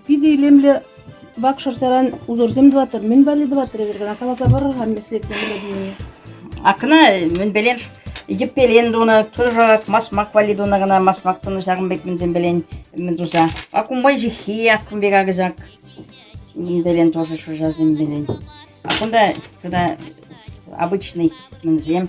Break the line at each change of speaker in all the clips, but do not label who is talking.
Питӗ илемлӗ вакшӑрсаран узорсем тӑваттӑр. Мӗн валли тӑваттӑр эпир кӑна? Каласа парӑр-ха меслетне Владимир. Акна
мӗнпелен йӗппелен тунӑ, тырӑшак, масмак валли тунӑ кӑна, масмак тунӑ ҫакӑн пек мӗнсемпелен мӗн туса. Акумбай ҫыххи, аккумбай какӑсак, мӗнпелен тоже шӑшасемпелен. А кунта тата обычный мӗнсем.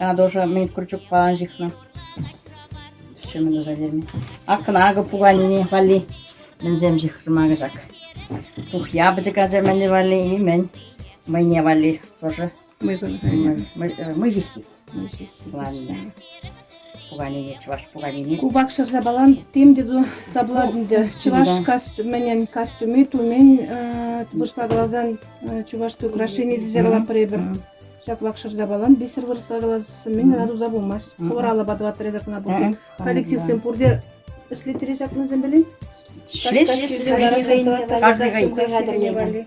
Атӑлҫа мӗн Курчукпа ҫыхнӑ. Ҫумӗ туса ҫырми. Ак кӑна акӑ пуканини валли мӗнсем ҫыхрӑма кӑҫак. Тухья пӗчӗк ача мӗнле валли и мӗн. Мӑйне валли тоже мыҫыххи. Ладно. Пуканини, чӑваш пуканини. Кубак шӑрҫапалан
тем те тупса пулать ӗнтӗ. Чӑваш костюмӗнен костюми тумен вырӑсла каласан чувашское украшение тесе калатпӑр эпир. Ҫаплах шӑрҫапалан бисер выртса каласса мӗн кӑна туса пымасть. Хӑвӑр алӑпа тӑваттӑр эсӗ кӑна пултӑр. Коллективсем пурте ӗҫлеттере ҫакнӑсем пулин? Ӗҫлеҫ.
Каждый
гайне.